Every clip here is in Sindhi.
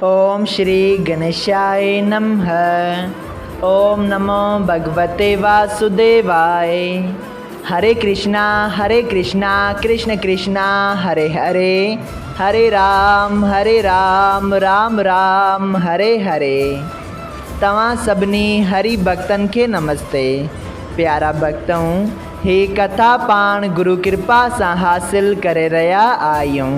اوم شري گڻيشائي نمه اوم نمو ڀڳوتي واسوديواي هري ڪرشنا هري ڪرشنا ڪرشن ڪرشنا هري هري هري رام هري رام رام رام هري هري توهان سڀني هري ڀڳتن کي نمستي پيارا ڀڳتؤن هي ڪٿا پاڻ گرو ڪرپا سان حاصل ڪري رهيا آهيون.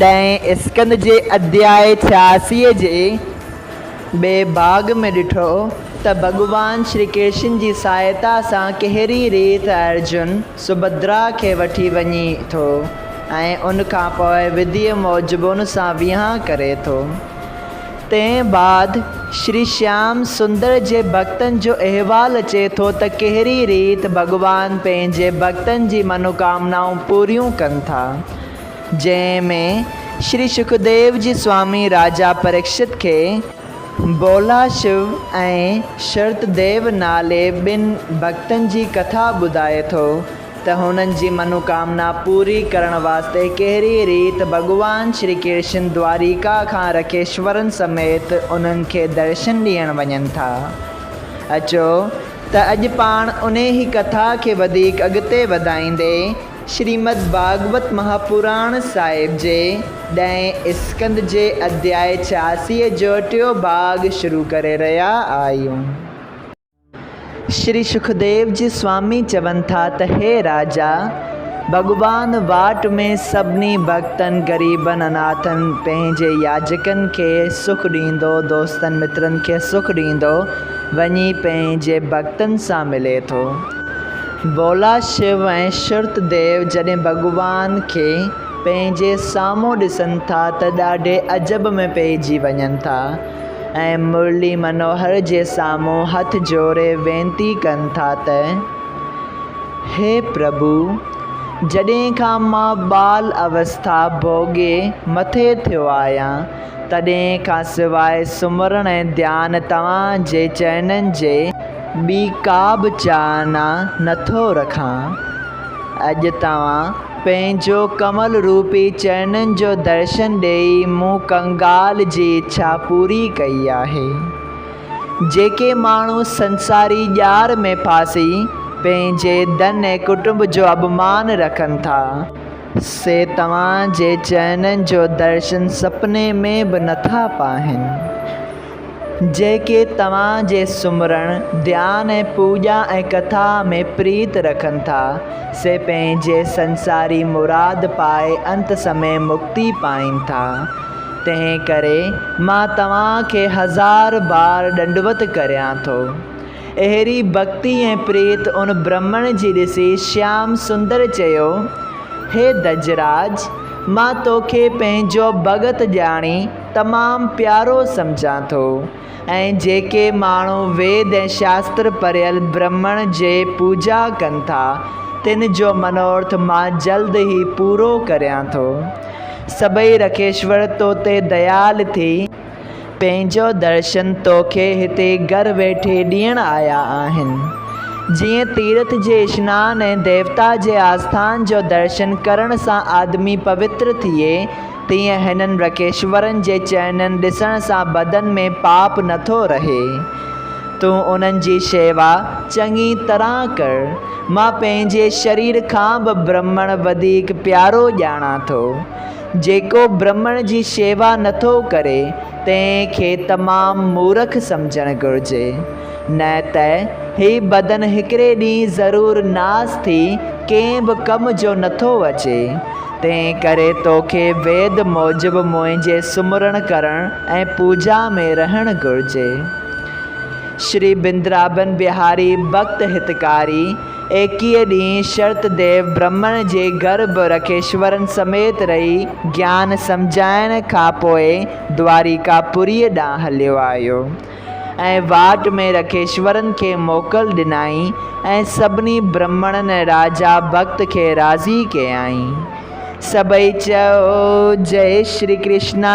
ڏهين اسڪند جي ادياء ڇياسيء جي ٻئي ڀاڳ ۾ ڏٺو ته ڀڳوان شري ڪرشن جي سهائتا سان ڪهڙي ريت ارجن سڀدرا کي وٺي وڃي ٿو ۽ ان کان پوء وڌيء موجب ان سان ويهان ڪري ٿو. تنهن بعد شري شيام سندر جي ڀڳتن جو احوال اچي ٿو ته ڪهڙي ريت ڀڳوان پنهنجي ڀڳتن جي منوڪامنائون پوريون ڪن ٿا. جنهن ۾ شري شڪديو جي سوامي راجا پريڪشت کي بولا شو ۽ شرت ديو نالي ٻن ڀڳتن جي ڪٿا ٻڌائي ٿو ته هنن جي منوڪامنا پوري ڪرڻ واسطي ڪهڙي ريت ڀڳوان شري ڪرشن دواريڪا کان رکيشورن سميت انهن کي درشن ڏيڻ وڃن ٿا اچو ته اڄ پاڻ انهي ڪٿا کي وڌيڪ اڳتي وڌائيندي شريمد ڀاڳوت مهاپراڻ صاحب جي ڏهين اسڪند جي اڌياء ڇياسيء جو ٽيون ڀاڳ شروع ڪري رهيا آهيون. شري سکديو جي سوامي چون ٿا ته هي راجا! ڀڳوان واٽ ۾ سڀني ڀڳتن، غريبن، اناٿن، پنهنجي ياجڪن کي سک ڏيندو، دوستن مترن کي سک ڏيندو، وڃي پنهنجي ڀڳتن سان ملي ٿو. ڀولا شو ۽ شرط ديو جڏهن ڀڳوان کي پنهنجي سامهون ڏسن ٿا ته ڏاڍي عجب ۾ پئجي وڃن ٿا ۽ مرلي منوهر جي سامهون هٿ جوڙي وينتي ڪن ٿا ته، هي پرڀو! جڏهن کان مان ٻال اوسٿا ڀوڳي مٿي ٿيو آهيان، تڏهن کان سواء سمرڻ ۽ ڌيان توهان جي چئنن جي ٻي ڪا به چاهنا نٿو رکان. اڄ توهان پنهنجو ڪمل روپي چئنن جو درشن ڏيئي مون ڪنگال جي اڇا پوري ڪئي آهي. جيڪي ماڻهو سنساري ڄار ۾ ڦاسي پنهنجي ڌن ۽ ڪٽنب جو اڀمان رکن ٿا، سي توهان جي چئنن جو درشن سپني ۾ به نٿا پاهن، جيڪي توهان جي سمرڻ، ڌيان ۽ پوڄا ۽ ڪٿا ۾ پريت رکن ٿا، سي پنهنجي سنساري مراد پائي انت سمي مڪتي پائين ٿا. تنهنڪري مان توهان کي هزار بار ڏنڊوت ڪريان ٿو. اهڙي ڀڳتي ۽ پريت ان برهمڻ جي ڏسي شيام سندر چيو، هي دجراج! مان توکي پنهنجو ڀڳت ڄاڻي تمام پيارو سمجهان ٿو ۽ جيڪي ماڻهو ويد ۽ شاستر پڙهيل برهمڻ جي پوڄا ڪن ٿا، تن جو منوارٿ مان جلد ئي پورو ڪريان ٿو. سڀئي رکيشور تو تي ديال ٿي. پنهنجو درشن توکي هتي گهر ويٺي ڏيڻ آيا آهن. جيئن تيرٿ جي اشنان ۽ ديوتا جي آسٿان جو درشن ڪرڻ سان آدمي پوتر ٿئي، تيئن هنن رڪيشورن جي چئنن ڏسڻ سان بدن ۾ پاپ نٿو رهي. تون انهن جي شيوا چڱي طرح ڪر. مان پنهنجي شرير کان به برهمڻ وڌيڪ پيارو ڄاڻان ٿو. جيڪو برهمڻ جي شيوا نٿو ڪري تنهن کي تمام مورک سمجهڻ گهرجي. نه ته هي بدن هڪڙي ڏينهن ضرور ناس ٿي ڪنهن به ڪم جو نٿو اچي. تنهن ڪري توکي ويد موجب منهنجي سمرڻ ڪرڻ ۽ پوڄا ۾ رهڻ گهرجي. شري بندرابن بهاري ڀڪت هتڪاري. ايڪيء ڏينهن شرت ديو برهمڻ جي گهر به رکيشورن سميت رهي گيان سمجهائڻ کان پوء دواريڪا پوريء ڏانهن هليو آيو ۽ واٽ ۾ رکيشورن کي موڪل ڏنائين ۽ سڀني برهمڻن ۽ راجا ڀڳت کي راضي ڪيائين. سڀئي چيو، جئي شري ڪرشنا!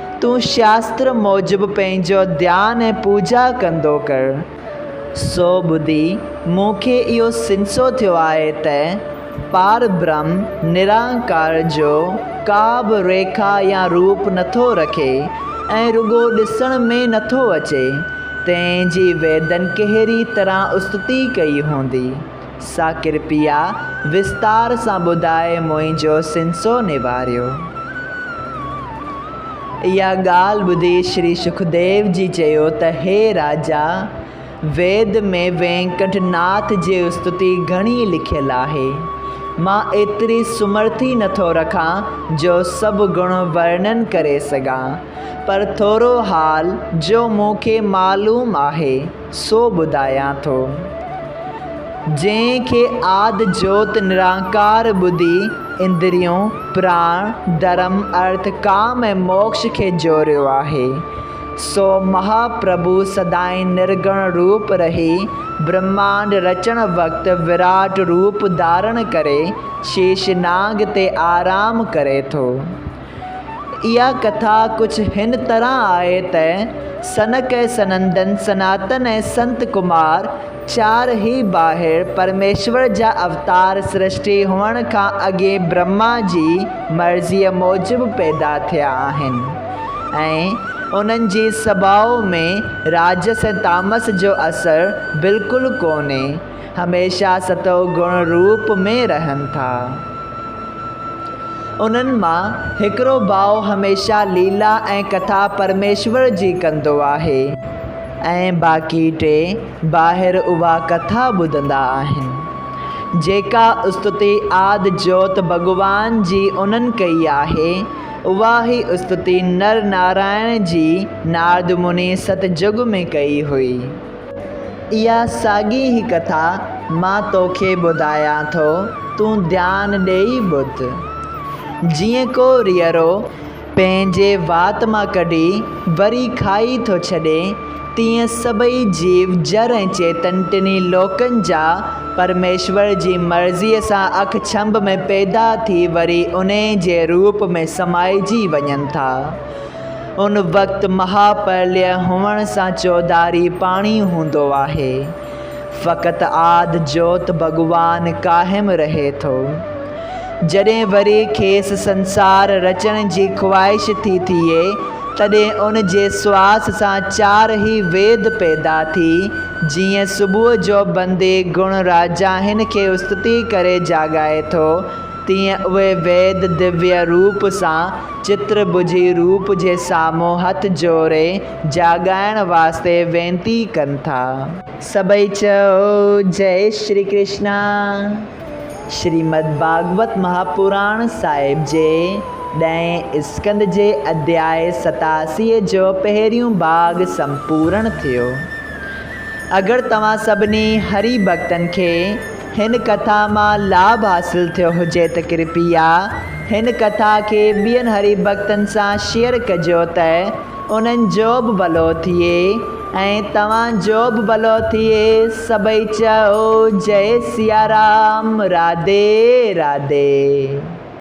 تون شاستر موجب پنهنجو ڌيان ۽ پوڄا ڪندو ڪر. سو ٻڌي مون کي اهو سنسو ٿيو آهي ته پاربرهم نرانڪار جو ڪا به ريکا يا روپ نٿو رکي ۽ رڳو ڏسڻ ۾ نٿو اچي، تنهن جي ويدن ڪهڙي طرح استتي ڪئي هوندي. سا ڪرپيا وستار سان ٻڌائي منهنجو سنسو نواريو. اها ڳالهه ٻڌي شري سکديو جي چيو ته هي راجا! ويد ۾ وينڪٽ ناٿ جي استتي گهڻي لکيل آهي. مان ايتري سمرٿي نه ٿو رکان جو سڀ گڻ ورنن ڪري سگهان. پر ٿورو حال جو مون کي معلوم آهي. سو ٻڌايان ٿو. جنهن کي آد جوت نرانڪار ٻڌي اندريون، پراڻ، ڌرم، ارٿ، ڪام ۽ موڪش کي جوڙيو آهي. سو مها پرڀو سدائين نرگڻ روپ رهي، برهمانڊ رچڻ وقت وراٽ روپ ڌارڻ ڪري شيش ناگ تي آرام ڪري ٿو. اها ڪٿا ڪجهه هن طرح آهي ته، سنڪ ۽ سنندن، سناتن ۽ سنت ڪمار، چار هي ٻاهر پرميشور جا اوتار سرشٽي هئڻ کان اڳين برهما جي مرضيء موجب پيدا ٿيا آهن ۽ انهن جي سڀاء ۾ راجس ۽ تامس جو اثر بلڪل ڪونهي. هميشه ستو گڻ روپ ۾ رهن ٿا. انهن مان هڪڙو ڀاء هميشه ليلا ۽ ڪٿا پرميشور جي ڪندو آهي ۽ باقي ٽي ٻاهر اها ڪٿا ٻڌندا آهن، جيڪا استتي آد جوت ڀڳوان جي انهن ڪئي آهي، اها ئي استتي نر نارائڻ جي نارد مني ست جڳ ۾ ڪئي هئي. اها ساڳي ئي ڪٿا مان توکي ٻڌايان ٿو، تون ڌيان ڏيئي ٻڌ. جيئن ڪو ريئرو پنهنجي وات مان ڪڍي وري کائي ٿو ڇڏي، تيئن سڀئي جيو، جر ۽ چيتن ٽنهي لوڪن جا پرميشور جي مرضيء سان اک ڇنڀ ۾ پيدا ٿي وري انهيء جي روپ ۾ سمائجي وڃن ٿا. ان وقت مها پرليه هئڻ سان چوڌاري پاڻي هوندو آهي. فقط آڌ جوت ڀڳوان قائم رهي ٿو. جڏهن وري کيس سنسار رچڻ جي خواهش ٿي ٿئي تڏهن ان جي سواس سان چار هي ويد پيدا ٿي جيئن صبح جو بندي گڻ راجاهن کي استتي ڪري جاڳائي ٿو، تيئن اهي ويد ديويء روپ سان چتر ٻجهي روپ جي سامهون هٿ جوڙي جاڳائڻ واسطي وينتي ڪن ٿا. سڀئي چئو، جئه شري ڪرشنا. شريمد ڀاڳوت مهاپراڻ صاحب جي ڏهين اسڪند جي اڌياء ستاسيء جو پهريون ڀاڳ سمپورڻ ٿيو. اگر توهان سڀني هري ڀڳتن کي هن ڪٿا مان لاڀ حاصل ٿيو هجي ته ڪرپيا هن ڪٿا کي ٻين هري ڀڳتن سان شيئر ڪجو ته انهن جو به ڀلو ٿئي ۽ توهان جو به ڀلو ٿئي سڀئي چئو جئي سيارام راڌي راڌي.